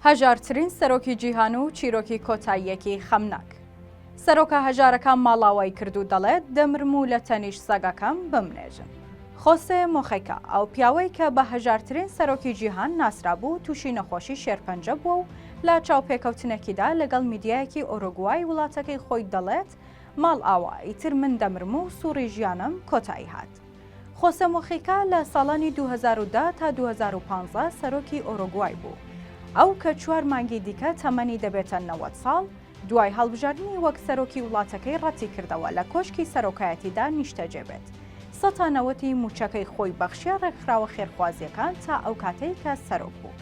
هەژارترین سەرۆکی جیهان و چیرۆکی کۆتاییەکی خەمناک. سەرۆکە هەژارەکان ماڵاوای کرد و دەڵێت دەمرم و لە تەنیشت سەگەکەم بمنێژن. خۆسێ مۆخیکا، ئەو پیاوەی کە بە هەژارترین سەرۆکی جیهان ناسرابوو تووشی نەخۆشی شێرپەنجە بووە و لە چاوپێکەوتنێکیدا لەگەڵ میدیایەکی ئۆرۆگوای وڵاتەکەی خۆی دەڵێت ماڵئاوا، ئیتر من دەمرم و سوڕی ژیانم کۆتایی هات. خۆسێ موخیکا لە ساڵانی دوو هەزار و دە تا دوو هەزار و پازدە سەرۆکی ئۆرۆگوای بوو. ئەو کە چوار مانگی دیکە تەمەنی دەبێتە نەوەد ساڵ، دوای هەڵبژاردنی وەک سەرۆکی وڵاتەکەی ڕەتیکردەوە لە کۆشکی سەرۆکایەتیدا نیشتەجێ بێت. سە تا نەوەتی مووچەکەی خۆی بەخشیە ڕێکخراوە خێرخوازییەکان تا ئەو کاتەی کە سەرۆک بوو.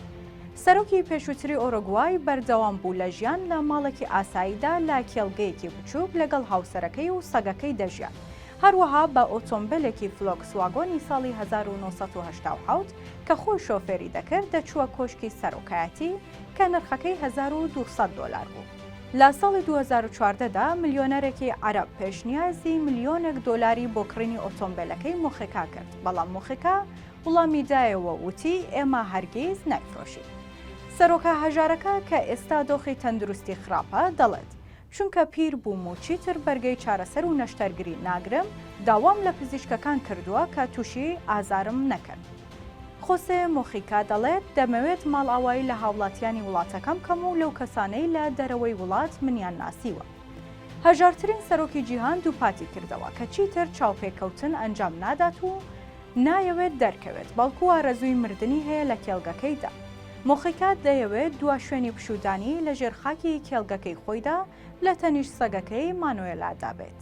سەرۆکی پێشووتری ئۆرۆگوای بەردەوام بوو لە ژیان لە ماڵێکی ئاساییدا لە کێڵگەیەکی بچووک لەگەڵ هاوسەرەکەی و سەگەکەی دەژیا. هەروەها بە ئۆتۆمبێلێکی فلۆکس واگۆنی ساڵی هەزار و نۆ سەد و هەشتا و حەوت کە خۆی شۆفێری دەکرد دەچووە کۆشکی سەرۆکایەتی کە نرخەکەی هەزار و دوو سەد دۆلار بوو. لە ساڵی دوو هەزار و چواردە دا ملیۆنەرێکی عەرەب پێشنیازی ملیۆنێک دۆلاری بۆ کڕینی ئۆتۆمبێلەکەی موخیکا کرد، بەڵام موخیکا وڵامی دایەوە و وتی ئێمە هەرگیز نایفرۆشین. سەرۆکە هەژارەکە کە ئێستا دۆخی تەندروستی خراپە دەڵێت، چونکە پیر بووم و چیتر بەرگەی چارەسەر و نەشتەرگری ناگرم، داوام لە پزیشکەکان کردووە کە تووشی ئازارم نەکەن. خۆسێ مۆخیکا دەڵێت، دەمەوێت ماڵئاوایی لە هاوڵاتیانی وڵاتەکەم بکەم و لەو کەسانەی لە دەرەوەی وڵات منیان ناسیوە. هەژارترین سەرۆکی جیهان دووپاتی کردەوە کە چیتر چاوپێکەوتن ئەنجام نادات و نایەوێت دەرکەوێت، بەڵکو ئارەزووی مردنی هەیە لە کێڵگەکەیدا. موخیکات دەیەوێت دوا شوێنی پشوودانی لە ژێر خاکی کێڵگەکەی خۆیدا لە تەنیشت سەگەکەی مانۆێلادا بێت.